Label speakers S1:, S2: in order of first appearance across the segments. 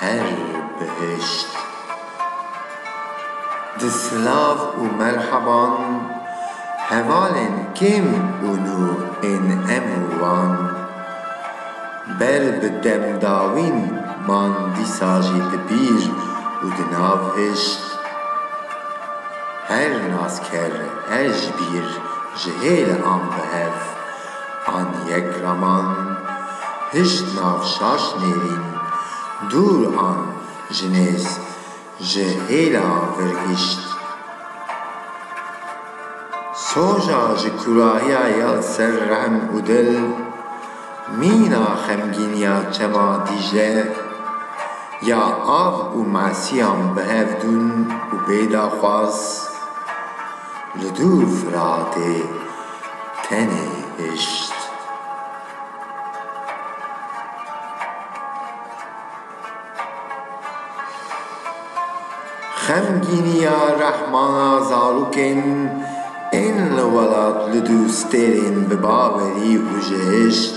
S1: Her bihişt. Di silav û merheban hevalên kêm û nû ên em û wan ber bi demdawîn man dîsa jî di bîr û di nav hişt. Her nasker, her jibîr ji hêle an bi hev. an yek raman, hişt nav şaş nêrîn, dûr an ji nêz, ji hêla vir hişt. Soja ji kurahiya ya ser rehm û dil, mîna xemgîniya çema Dîcle, ya av û mesiyan bi hev dûn û bêdaxwaz, li dûr Firatê, tenê hişt. Xemgîniya rehmana zarokên ên li welat li dû stêrên bi bawerî û ji hişt.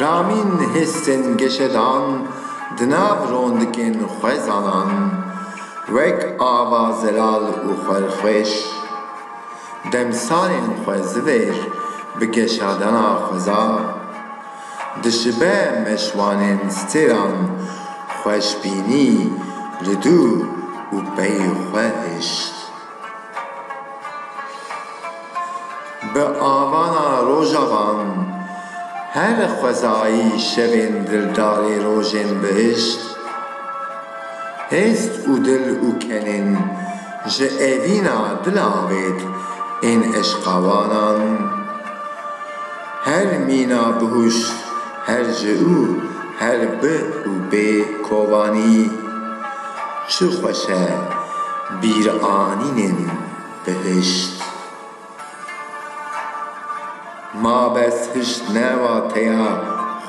S1: Ramîn hêsên geşedan di nav rondikên xwezanan wek ava zelal û xwerxweş, demsalên xwe zivêr bi geşadana xweza, dişibe meşwanên stêran xweşbînî li dû û pey xwe hişt. Bi avana rojavan her xwezayî şevên dildarê rojên bihişt, hêst û dil û kenên ji evîna dil avêt ên eşqawanan. Her mîna bihûş, her ji û her bi û bê kovanî, çi xweş e bîranînên bihişt. Ma bes hişt ne wateya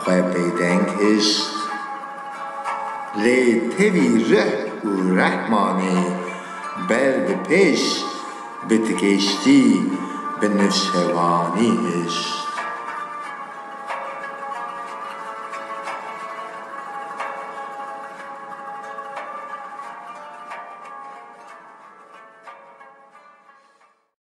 S1: xwe bêdeng hişt. Lê tevî rih û rehmanê ber bi pêş Bi tigêştî bi nuşewanî hişt.